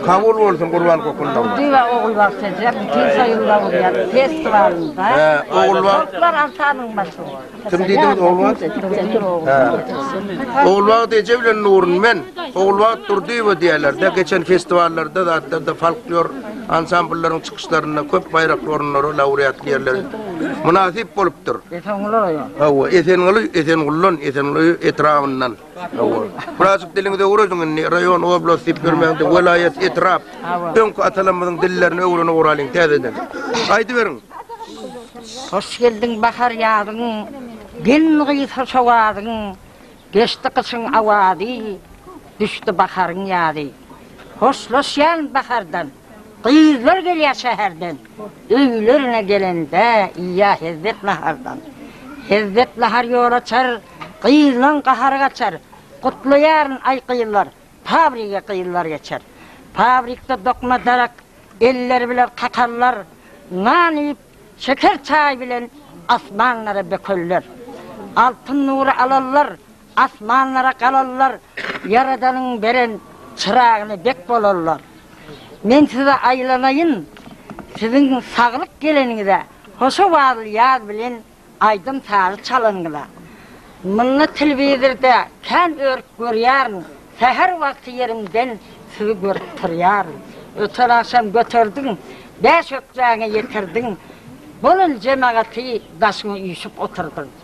Kabul bolsun gurban kokundan. Düýe Ogulbagşyja bütin soýunda bolýar festiwalynda. He, Ogulbag. Toplar altabyň başyny. Kim diýdiňiz Ogulbag? He. Ogulbag Deje bilen Nurun men Ogulbag Durdyýewa diýerler-de, geçen festiwallarda zatlarda folklor ansamblýlaryň çykyşlarynda köp baýrakly orunlary, laureatly ýerleri mynasyp bolupdyr. Esenguly oýa. Hawa, Esenguly, Esenguldan, Esenguly etrabyndan. Birazjyk diliňizi öwrediň indi, raýon, oblast diýip ýörmäň, welaýat, etrap. Öňki atalarymyzyň dillerini öwrenip oralyň täzeden. Aýdyberiň. Hoş geldiň bahar ýazyň, Gelin-gyz hoş owazyň, Geçdi gyşyň awazy, Düşdi baharyň ýazy. Hoşlaşýan bahardan. Gyzlar gelýär şäherden. Öýlerine gelende iýýär hezzet nahardan. Hezzet nahar ýol açar, gyzlaň gahary gaçar. Gutlaýaryn, aý, gyzlar, fabrige gyzlar geçer. Fabrikde dokma darak, elleri biler kakallar. Nan iýip, şeker çaý bilen asmanlara bökerler. Altyn nury alallar. Asmanlara galarlar, Ýaradanyň beren çyragyna bek bolarlar. Men size aýlanaýyn, siziň saglyk geleniňize, hoşawazly ýaz bilen aýdym-sazy çalanyňyza. Munda telewizorda kän örüp görýärin, säher wagty ýerimden sizi görüp turýaryn. Öten agşam göterdiň, bäş ökjäňe ýetirdiň, bolan jemagaty daşyňa üýşüp oturdyň.